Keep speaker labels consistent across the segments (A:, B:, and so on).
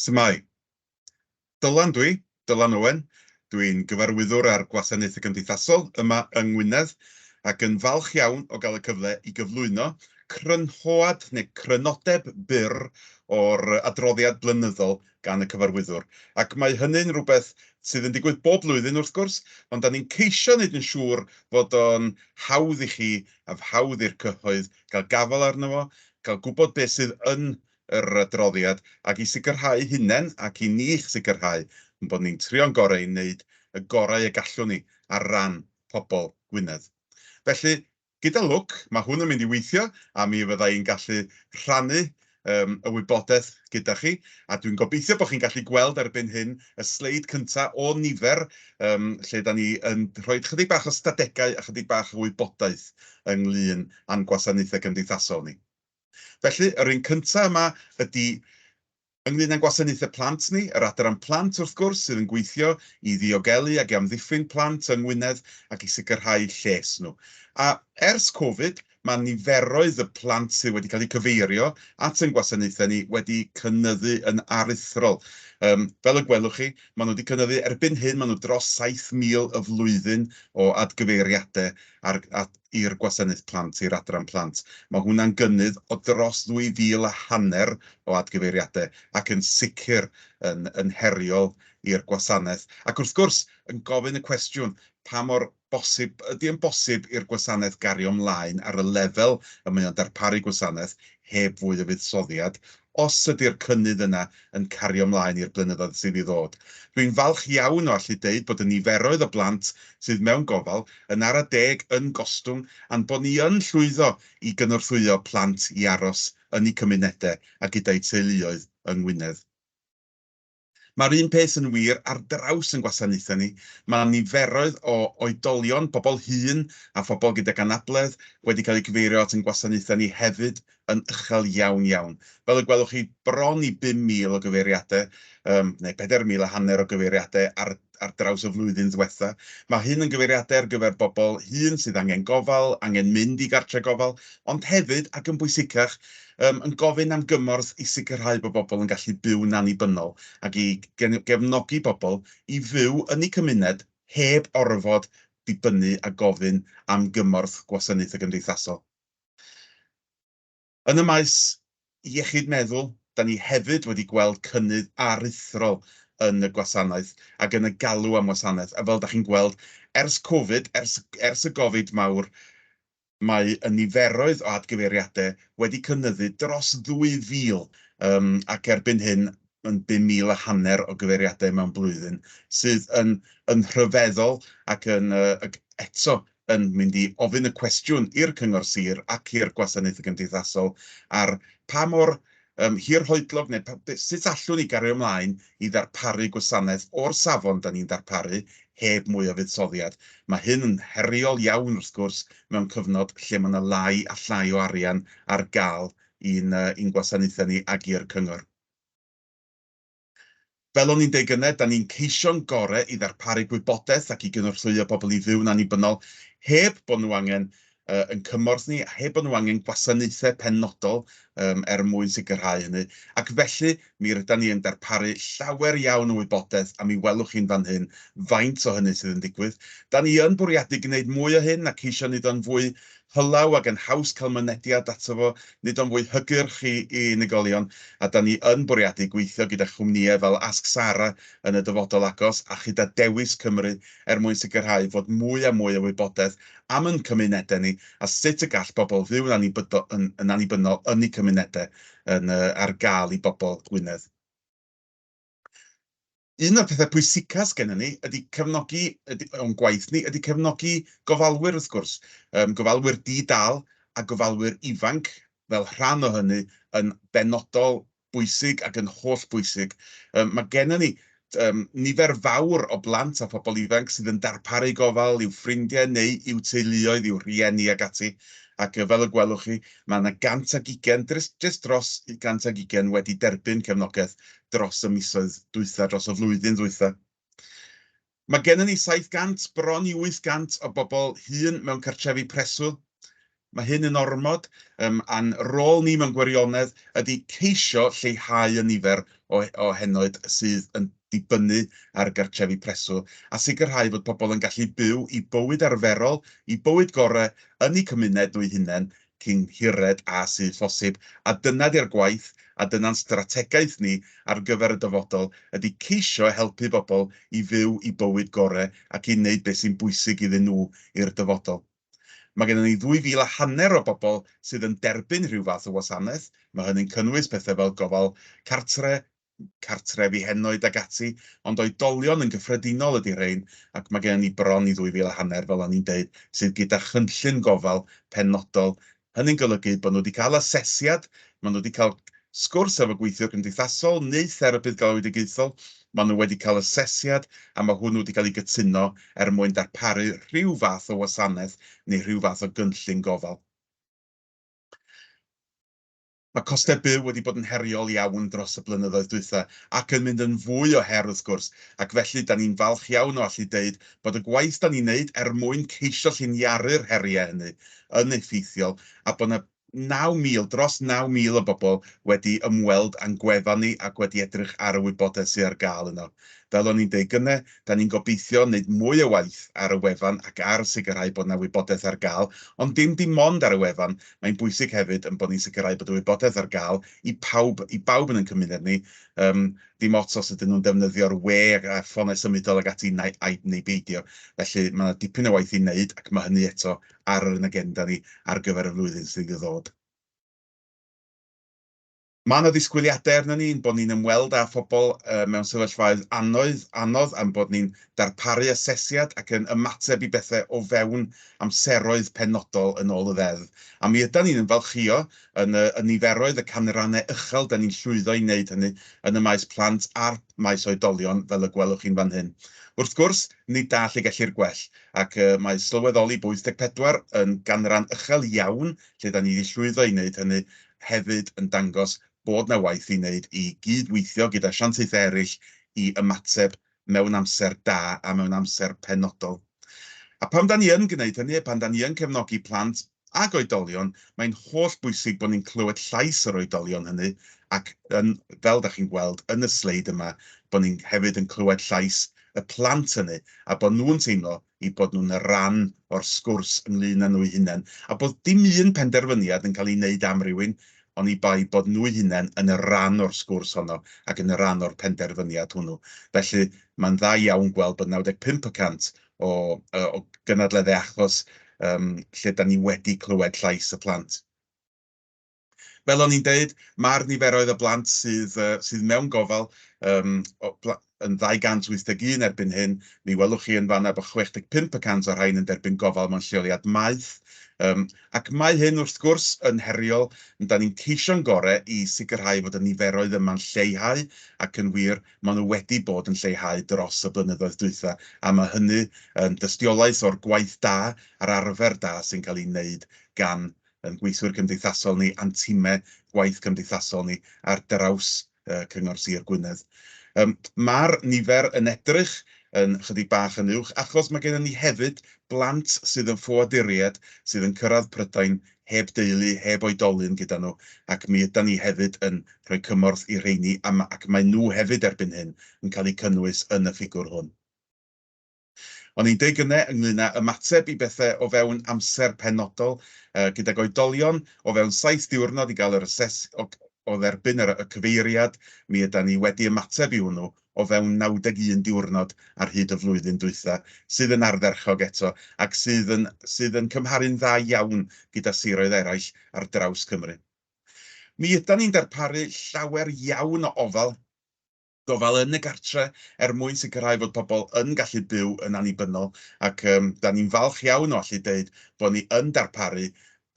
A: Su'mai. Dylan dwi, Dylan Owen, dwi'n Gyfarwyddwr ar Gwasanaethau Cymdeithasol yma yng Ngwynedd ac yn falch iawn o gael y cyfle i gyflwyno crynhoad neu crynodeb byr o'r adroddiad blynyddol gan y Cyfarwyddwr, ac mae hynny'n rhywbeth sydd yn digwydd bob blwyddyn, wrth gwrs, ond dan ni'n ceisio wneud yn siŵr fod o'n hawdd i chi a hawdd i'r cyhoedd gael gafael arno fo, cael gwybod beth sydd yn yr adroddiad, ac i sicrhau'u hunain ac i ni'ch sicrhau ein bod ni'n trio'n gorau i wneud y gorau y gallwn ni ar ran pobl Gwynedd. Felly, Gyda lwc, mae hwn yn mynd i weithio a mi fydda i'n gallu rhannu y wybodaeth gyda chi, a dwi'n gobeithio bod chi'n gallu gweld erbyn hyn y sleid cynta' o nifer lle 'da ni yn rhoi chydig bach o stadegau a chydig bach o wybodaeth ynglŷn a'n gwasanaethau cymdeithasol ni. Felly, yr un cynta' yma ydi Ynglŷn â'n gwasanaethau plant ni, yr Adran Plant, wrth gwrs, sydd yn gweithio i ddiogelu ac i amddiffyn plant yng Ngwynedd ac i sicrhau lles nhw. A, ers Covid, mae niferoedd y plant sydd wedi cael eu cyfeirio at ein gwasanaethau ni wedi cynyddu yn aruthrol. Yym, fel y gwelwch chi, maen nhw wedi cynyddu, erbyn hyn, maen nhw dros 7,000 y flwyddyn o adgyfeiriadau ar, at, i'r Gwasanaeth Plant, i'r Adran Plant. Mae hwnna'n gynnydd o dros ddwy fil a hanner o adgyfeiriadau ac yn sicr yn yn heriol i'r gwasanaeth. Ac wrth gwrs, yn gofyn y cwestiwn, pa mor bosib ydy e'n bosib i'r gwasanaeth gario ymlaen ar y lefel y mae o'n darparu gwasanaeth heb fwy o fuddsoddiad os ydy'r cynnydd yna yn cario mlaen i'r blynyddoedd sydd i ddod. Rwy'n falch iawn o allu deud bod y niferoedd o blant sydd mewn gofal yn ara deg yn gostwng a'n bod ni yn llwyddo i gynorthwyo plant i aros yn eu cymunedau a gyda'u teuluoedd yng Ngwynedd. Mae'r un peth yn wir ar draws ein gwasanaethau ni, mae niferoedd o oedolion, pobl hŷn a phobl gydag anabledd wedi cael eu cyfeirio at ein gwasanaethau ni hefyd yn uchel iawn iawn. Fel y gwelwch chi, bron i 5,000 o gyfeiriadau, neu 4,000 a hanner o gyfeiriadau ar ar draws y flwyddyn ddiwetha'. Mae hyn yn gyfeiriadau ar gyfer bobl hŷn sydd angen gofal, angen mynd i gartre' gofal, ond hefyd, ac yn bwysicach, yym yn gofyn am gymorth i sicrhau bod bobl yn gallu byw'n annibynnol ac i gefnogi bobl i fyw yn eu cymuned heb orfod dibynnu a gofyn am gymorth Gwasanaethau Cymdeithasol. Yn y maes iechyd meddwl, da ni hefyd wedi gweld cynnydd aruthrol yn y gwasanaeth ac yn y galw am wasanaeth, a fel da chi'n gweld, ers Covid, ers ers y Gofid mawr, mae y niferoedd o adgyfeiriadau wedi cynyddu dros 2,000, yym, ac erbyn hyn yn 5,000 a hanner o gyfeiriadau mewn blwyddyn, sydd yn yn rhyfeddol ac yn yy ac eto yn mynd i ofyn y cwestiwn i'r Cyngor Sir ac i'r Gwasanaethau Cymdeithasol ar pa mor um, hirhoedlog neu pa, sut allwn ni gario ymlaen i ddarparu gwasanaeth o'r safon da ni'n darparu heb mwy o fuddsoddiad. Mae hyn yn heriol iawn wrth gwrs mewn cyfnod lle mae yna lai a llai o arian ar gael i'n, uh, i'n gwasanaethau ni ag i'r cyngor. Fel o'n i'n deud gyne, 'da ni'n ceisio'n gore i ddarparu gwybodaeth ac i gynorthwyo pobl i fyw'n annibynnol heb bo' nhw angen yn cymorth ni a heb bo' nhw angen gwasanaethe penodol er mwyn sicrhau hynny. Ac felly, mi rydan ni yn darparu llawer iawn o wybodaeth a mi welwch chi'n fan hyn faint o hynny sydd yn digwydd. 'Da ni yn bwriadu gneud mwy o hyn a ceisio neud o'n fwy hylaw ac yn haws cael mynediad ato fo, nid o'n fwy hygyrch i i unigolion, a 'da ni yn bwriadu gweithio gyda chwmnïau fel Ask Sara yn y dyfodol agos a chyda Dewis Cymru er mwyn sicrhau fod mwy a mwy o wybodaeth am yn cymunedau ni a sut y gall bobl fyw'n annibydo yn yn annibynnol yn eu cymunedau yn yy ar gael i bobl Gwynedd. Un o'r pethau pwysicaf sgennym ni ydy cefnogi, ydy, o'n gwaith ni, ydy cefnogi gofalwyr wrth gwrs, um, gofalwyr di-dal a gofalwyr ifanc fel rhan o hynny yn benodol bwysig ac yn holl bwysig. Um, mae gennym ni um, nifer fawr o blant a phobl ifanc sydd yn darparu gofal i'w ffrindiau neu i'w teuluoedd, i'w rhieni ac ati. Ac fel y gwelwch chi, mae yna 120, jyst dros 120 wedi derbyn cefnogaeth dros y misoedd dwytha, dros y flwyddyn ddwytha. Mae gennym ni 700, bron i 800 o bobl hŷn mewn cartrefi preswyl. Mae hyn yn ormod, um, a'n rôl ni mewn gwirionedd ydy ceisio lleihau y nifer o, o henoed sydd yn dibynnu ar gartrefi preswyl a sicrhau bod pobl yn gallu byw i bywyd arferol, i bywyd gorau yn eu cymuned nhw'u hunain, cyn hired â sydd phosib, a dyna di'r gwaith, a dyna'n strategaeth ni ar gyfer y dyfodol, ydi ceisio helpu bobl i fyw i bywyd gore ac i wneud beth sy'n bwysig iddyn nhw i'r dyfodol. Mae gennon ni ddwy fil a hanner o bobl sydd yn derbyn rhyw fath o wasanaeth, mae hynny'n cynnwys pethe fel gofal cartre, cartrefi henoed ac ati, ond oedolion yn gyffredinol ydy rhein, ac mae gennym ni bron i ddwy fil a hanner, fel o'n i'n deud, sydd gyda chynllun gofal penodol. Hynny'n golygu bod nhw wedi cael asesiad, maen nhw wedi cael sgwrs efo gweithiwr cymdeithasol neu therapydd galwedigaethol, maen nhw wedi cael asesiad a mae hwnnw wedi cael ei gytuno er mwyn darparu rhyw fath o wasanaeth neu rhyw fath o gynllun gofal. Mae costau byw wedi bod yn heriol iawn dros y blynyddoedd dwytha, ac yn mynd yn fwy o her wrth gwrs, ac felly 'da ni'n falch iawn o allu deud bod y gwaith 'da ni'n neud er mwyn ceisio lliniaru'r heriau hynny yn effeithiol a bod 'na 9,000, dros 9,000 o bobl wedi ymweld â'n gwefan ni ac wedi edrych ar y wybodaeth sydd ar gael yno. Fel o'n i'n deud gynne, 'da ni'n gobeithio neud mwy o waith ar y wefan ac ar sicrhau bod 'na wybodaeth ar gael, ond dim dim ond ar y wefan, Mae'n bwysig hefyd ein bod ni'n sicrhau bod y wybodaeth ar gael i pawb, i bawb yn ein cymuned ni, yym, dim ots os ydyn nhw'n defnyddio'r we a'r ffonau symudol ac ati nai, ai, neu beidio. Felly, mae yna dipyn o waith i wneud ac mae hynny eto ar yn agenda ni ar gyfer y flwyddyn sydd i ddod. Mae yna ddisgwyliadau arnon ni ein bod ni'n ymweld â phobl mewn sefyllfaoedd annoedd, anodd a'n bod ni'n darparu asesiad ac yn ymateb i bethau o fewn amseroedd penodol yn ôl y Ddeddf. A mi ydan ni'n ymfalchïo yn y niferoedd, y canrannau uchel 'dan ni'n llwyddo i wneud hynny yn y maes plant a'r maes oedolion, fel y gwelwch chi'n fan hyn. Wrth gwrs, nid da lle gellir gwell, ac mae sylweddoli bod 84 yn ganran uchel iawn lle 'dan ni 'di llwyddo i wneud hynny, hefyd yn dangos bod 'na waith i wneud i gyd-weithio gyda asiantaethau eraill i ymateb mewn amser da a mewn amser penodol. A pan 'dan ni yn gwneud hynny, a pan 'dan ni yn cefnogi plant ac oedolion, mae'n holl bwysig bod ni'n clywed llais yr oedolion hynny ac yn, fel 'dach chi'n gweld yn y sleid yma, bod ni'n hefyd yn clywed llais y plant hynny a bod nhw'n teimlo eu bod nhw'n ran o'r sgwrs ynglŷn â nhw'u hunain, a bod dim un penderfyniad yn cael ei wneud am rywun, oni bai bod nhw'u hunain yn ran o'r sgwrs honno ac yn ran o'r penderfyniad hwnnw. Felly, mae'n dda iawn gweld bod 95 y cant o o gynadleddau achos yym lle 'dan ni wedi clywed llais y plant. Fel o'n i'n deud, mae'r niferoedd o blant sydd yy sydd mewn gofal yym o bla- yn 281 erbyn hyn. Mi welwch chi yn fan 'na bod 65 y cant o'r rhain yn derbyn gofal mewn lleoliad maeth. Yym ac mae hyn wrth gwrs yn heriol, ond 'dan ni'n ceisio'n gore i sicrhau fod y niferoedd yma'n lleihau, ac yn wir, maen nhw wedi bod yn lleihau dros y blynyddoedd dwytha, a ma' hynny yn dystiolaeth o'r gwaith da a'r arfer da sy'n cael ei wneud gan ein gweithwyr cymdeithasol ni a'n timau gwaith cymdeithasol ni ar draws Cyngor Sir Gwynedd. Mae'r nifer yn edrych yn ychydig bach yn uwch achos mae gennym ni hefyd blant sydd yn ffoaduriaid sydd yn cyrraedd Prydain heb deulu, heb oedolyn gyda nhw ac mi ydan ni hefyd yn rhoi cymorth i'r rheini ac maen nhw hefyd erbyn hyn yn cael eu cynnwys yn y ffigwr hwn. O'n i'n deu gynnau ynglŷn â ymateb i bethau o fewn amser penodol, gydag oedolion o fewn saith diwrnod i gael yr ases- o o dderbyn yr y cyfeiriad, mi ydan ni wedi ymateb i hwnnw o fewn 91 diwrnod ar hyd y flwyddyn dwytha, sydd yn ardderchog eto, ac sydd yn sydd yn cymharu'n dda iawn gyda siroedd eraill ar draws Cymru. Mi ydan ni'n darparu llawer iawn o ofal, gofal yn y gartre er mwyn sicrhau fod pobl yn gallu byw yn annibynnol ac yym dan ni'n falch iawn o allu deud bod ni yn darparu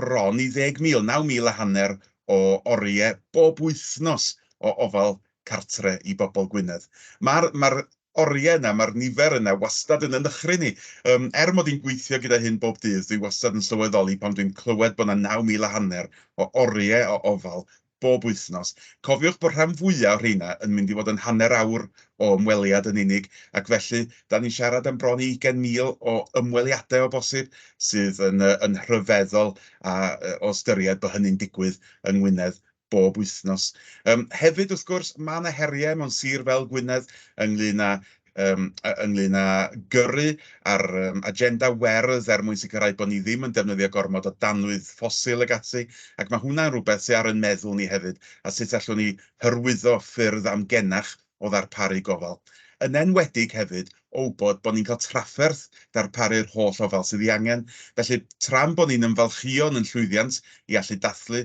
A: bron i ddeg mil, naw mil a hanner o oriau bob wythnos o ofal cartre i bobl Gwynedd. Ma'r ma'r oriau yna, ma'r nifer yna wastad yn yn nychryn i. Yym er mod i'n gweithio gyda hyn bob dydd, dwi wastad yn sylweddoli pan dwi'n clywed bod 'na naw mil a hanner o oriau o ofal bob wythnos. Cofiwch bod rhan fwya' o rheina yn mynd i fod yn hanner awr o ymweliad yn unig, ac felly, 'da ni'n siarad am bron i ugain mil o ymweliadau o bosib, sydd yn yn rhyfeddol a o ystyried bod hynny'n digwydd yng Ngwynedd bob wythnos. Yym hefyd, wrth gwrs, ma' 'na heriau mewn sir fel Gwynedd ynglŷn â yym ynglyn â gyrru ar yym agenda werdd er mwyn sicrhau bod ni ddim yn defnyddio gormod o danwydd ffosil ac ati, ac mae hwnna'n rhywbeth sydd ar ein meddwl ni hefyd, a sut allwn ni hyrwyddo ffyrdd amgenach o ddarparu gofal. Yn enwedig hefyd o wybod bod ni'n cael trafferth darparu'r holl ofal sydd ei angen, felly tra'n bod ni'n ymfalchïo yn ein llwyddiant i allu dathlu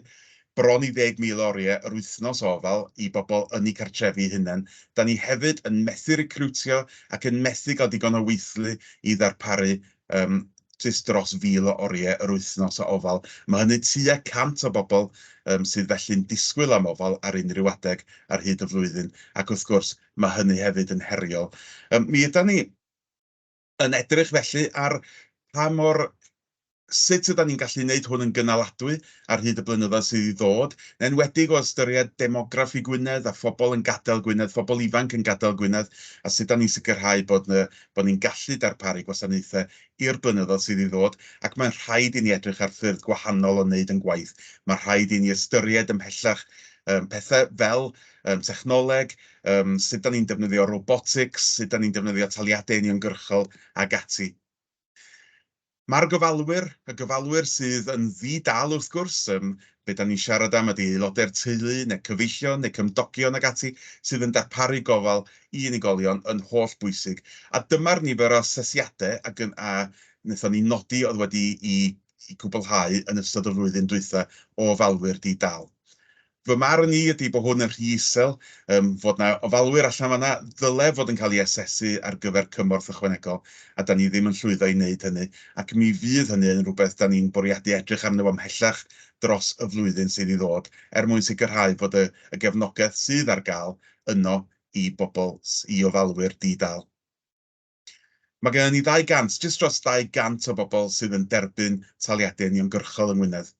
A: bron i 10,000 oriau yr wythnos o ofal i bobl yn eu cartrefi'u hunain. Da ni hefyd yn methu recriwtio ac yn methu cael digon o weithlu i ddarparu yym jyst dros 1,000 o oriau yr wythnos o ofal. Mae hynny tua 100 o bobl yym sydd felly'n disgwyl am ofal ar unrhyw adeg ar hyd y flwyddyn ac wrth gwrs mae hynny hefyd yn heriol. Yym mi ydan ni yn edrych felly ar pa mor... sut ydan ni'n gallu wneud hwn yn gynaladwy ar hyd y blynyddoedd sydd i ddod, yn enwedig o ystyried demographi Gwynedd a phobl yn gadael Gwynedd, phobl ifanc yn gadael Gwynedd, a sut dan ni'n sicrhau bod yy bod ni'n gallu darparu gwasanaethau i'r blynyddoedd sydd i ddod, ac mae'n rhaid i ni edrych ar ffyrdd gwahanol o wneud yn gwaith. Mae'n rhaid i ni ystyried ymhellach yym pethau fel yym technoleg, yym sut da ni'n defnyddio robotics, sut da ni'n defnyddio taliadau uniongyrchol ac ati. Mae'r gofalwyr, y gofalwyr sydd yn ddi-dâl wrth gwrs, yym be da ni'n siarad am ydy aelodau'r teulu neu cyfeillion neu cymdogion ac ati sydd yn darparu gofal i unigolion yn holl bwysig. A dyma'r nifer o asesiadau a gyn- a wnaethon ni nodi oedd wedi i i gwblhau yn ystod y flwyddyn dwytha o ofalwyr di-dâl. Fy marn i ydy bod hwn yn rhy isel, ym fod 'na ofalwyr allan fan 'na ddylai fod yn cael ei asesu ar gyfer cymorth ychwanegol, a 'dan ni ddim yn llwyddo i wneud hynny, ac mi fydd hynny yn rhywbeth 'dan ni'n bwriadu edrych arno fo ymhellach dros y flwyddyn sydd i ddod, er mwyn sicrhau bod y y gefnogaeth sydd ar gael yno i bobl, i ofalwyr di-dâl. Mae gennym ni 200, jyst dros 200 o bobl sydd yn derbyn taliadau uniongyrchol yng Ngwynedd.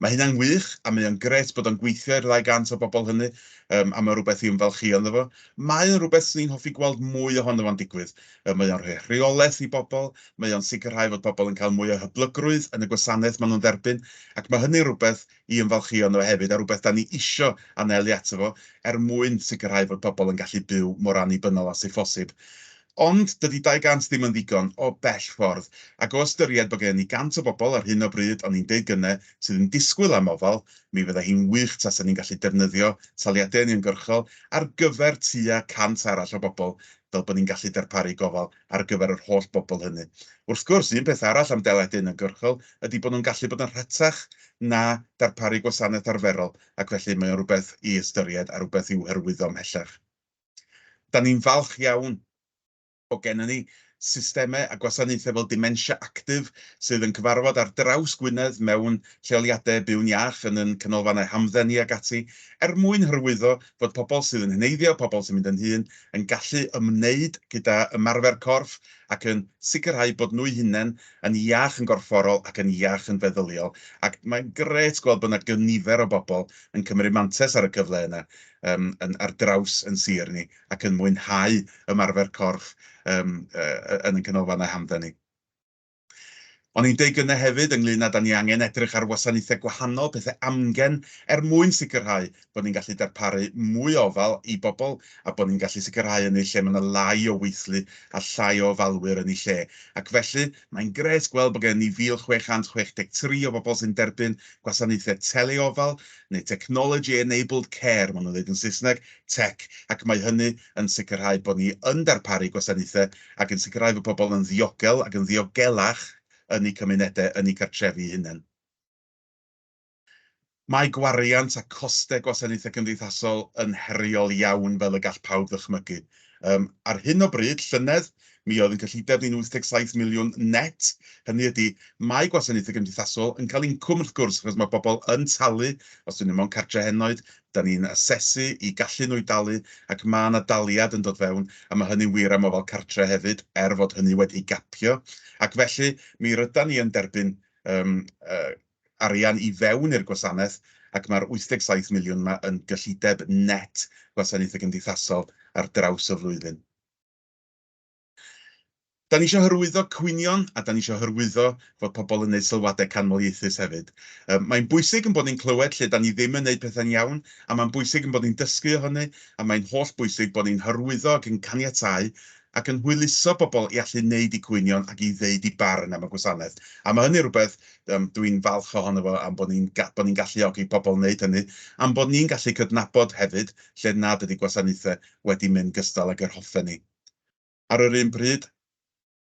A: Mae hynna'n wych a mae o'n grêt bod o'n gweithio i'r 200 o bobl hynny yym a mae o'n rhywbeth i ymfalchïo ynddo fo. Mae o'n rhywbeth 'swn i'n hoffi gweld mwy ohono fo'n digwydd. Yy mae o'n rhoi rheolaeth i bobl, mae o'n sicrhau fod pobl yn cael mwy o hyblygrwydd yn y gwasanaeth maen nhw'n dderbyn ac mae hynny'n rhywbeth i ymfalchïo ynddo fe hefyd, a rhywbeth 'dan ni isio anelu ato fo, er mwyn sicrhau fod pobl yn gallu byw mor annibynnol â sydd phosib. Ond, dydy 200 ddim yn ddigon, o bell ffordd, ac o ystyried bod gennym ni 100 o bobl ar hyn o bryd, o'n i'n deud gynne, sydd yn disgwyl am ofal, mi fydda hi'n wych tasa ni'n gallu defnyddio taliadau uniongyrchol ar gyfer tua 100 arall o bobl, fel bod ni'n gallu darparu gofal ar gyfer yr holl bobl hynny. Wrth gwrs, un peth arall am deledu uniongyrchol ydy bod nhw'n gallu bod yn rhatach na darparu gwasanaeth arferol ac felly mae o'n rhywbeth i ystyried a rhywbeth i'w hyrwyddo ymhellach. Da ni'n falch iawn bod gennym ni systemau a gwasanaethau fel Dementia Active sydd yn cyfarfod ar draws Gwynedd mewn lleoliadau byw'n iach, yn ein canolfannau hamdden ni ac ati, er mwyn hyrwyddo fod pobl sydd yn heneiddio, pobl sy'n mynd yn hŷn yn gallu ymwneud gyda ymarfer corff ac yn sicrhau bod nhw'u hunain yn iach yn gorfforol ac yn iach yn feddyliol ac mae'n grêt gweld bod 'na gynifer o bobl yn cymryd mantes ar y cyfle yna yym yn ar draws yn sir ni ac yn mwynhau ymarfer corff yym yy yn ein canolfannau hamdden ni. O'n i'n deud gynne hefyd ynglŷn â 'da ni angen edrych ar wasanaethau gwahanol, pethe amgen, er mwyn sicrhau bod ni'n gallu darparu mwy o ofal i bobl a bod ni'n gallu sicrhau hynny lle mae 'na lai o weithlu a llai o ofalwyr yn eu lle. Ac felly, mae'n grêt gweld bod gennym ni 1,663 o bobl sy'n derbyn gwasanaethau tele-ofal, neu technology enabled care maen nhw'n ddeud yn Saesneg, tech, ac mae hynny yn sicrhau bod ni yn darparu gwasanaethau ac yn sicrhau fod pobl yn ddiogel ac yn ddiogelach yn eu cymunedau, yn eu cartrefi eu hunain. Mae gwariant a chostau gwasanaethau cymdeithasol yn heriol iawn fel y gall pawb ddychmygu. Yym, ar hyn o bryd, llynedd, mi oedd ein cyllideb ni'n 87 miliwn net, hynny ydy, mae gwasanaethau cymdeithasol yn cael incwm wrth gwrs achos mae pobl yn talu, os 'dyn nhw mewn cartref henoed, 'da ni'n asesu i gallu nhw i dalu ac ma' 'na daliad yn dod fewn a ma' hynny'n wir am ofal cartre hefyd er fod hynny wedi gapio ac felly mi rydan ni yn derbyn yym yy arian i fewn i'r gwasanaeth ac ma'r 87 miliwn 'ma yn gyllideb net gwasanaethe cymdeithasol ar draws y flwyddyn. Da ni isio hyrwyddo cwynion a da ni isio hyrwyddo fod pobl yn neud sylwadau canmoliaethus hefyd. Yym, mae'n bwysig yn bod ni'n clywed lle da ni ddim yn neud pethau'n iawn a mae'n bwysig yn bod ni'n dysgu o hynny a mae'n holl bwysig bod ni'n hyrwyddo ac yn caniatáu ac yn hwyluso bobl i allu neud eu cwynion ac i ddeud eu barn am y gwasanaeth. A mae hynny rhywbeth yym, dw i'n falch ohono fo am bod ni'n ga- bod ni'n galluogi pobl wneud hynny am bod ni'n gallu cydnabod hefyd lle nad ydy gwasanaethau wedi mynd gystal ag yr hoffen ni. Ar yr un pryd,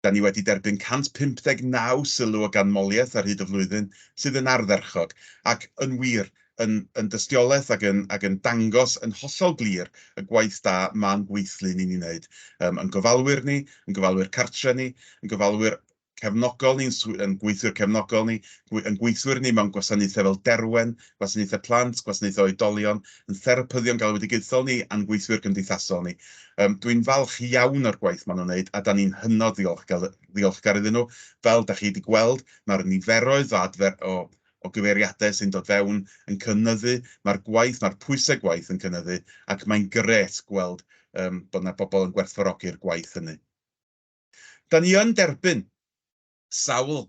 A: da ni wedi derbyn 159 sylw o ganmoliaeth ar hyd y flwyddyn, sydd yn ardderchog, ac, yn wir, yn yn dystiolaeth ac yn ac yn dangos yn hollol glir y gwaith da ma'n gweithlu ni'n ei wneud, yn gofalwyr ni, yn gofalwyr cartre ni, yn gofalwyr cefnogol ni'n sw-, yn gweithiwr cefnogol ni, gw-, yn gweithwyr ni mewn gwasanaethau fel Derwen, gwasanaethau plant, gwasanaethau oedolion, yn therapyddion galwedigaethol ni a'n gweithwyr cymdeithasol ni. Um, Dwi'n falch iawn o'r gwaith maen nhw'n wneud a da ni'n hynod ddiolchgar, ddiolchgar iddyn nhw. Fel da chi wedi gweld, mae'r niferoedd o, adfer, o o gyfeiriadau sy'n dod fewn yn cynnyddu, mae'r gwaith, mae'r pwysau gwaith yn cynnyddu, ac mae'n gret gweld um, bod yna bobl yn gwerthfarogi'r gwaith hynny. Da ni yn derbyn sawl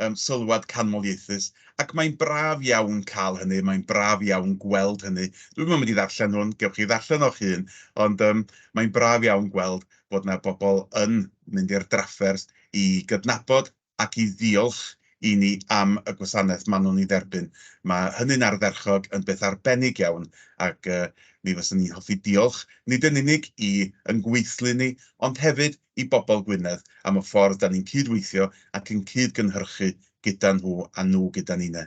A: um, sylwad canmoliaethus, ac mae'n braf iawn cael hynny, mae'n braf iawn gweld hynny. Dwi'm yn mynd i ddarllen hwn, gewch chi ddarllen o'ch hun, ond um, mae'n braf iawn gweld bod yna bobl yn mynd i'r drafferth i gydnabod ac i ddiolch i ni am y gwasanaeth maen nhw'n ei dderbyn. Mae hynny'n ardderchog, yn beth arbennig iawn, ac mi fyswn i'n hoffi diolch nid yn unig i yn gweithlu ni, ond hefyd i bobl Gwynedd am y ffordd 'da ni'n cyd-weithio ac yn cyd-gynhyrchu gyda nhw a nhw gyda ni 'ne.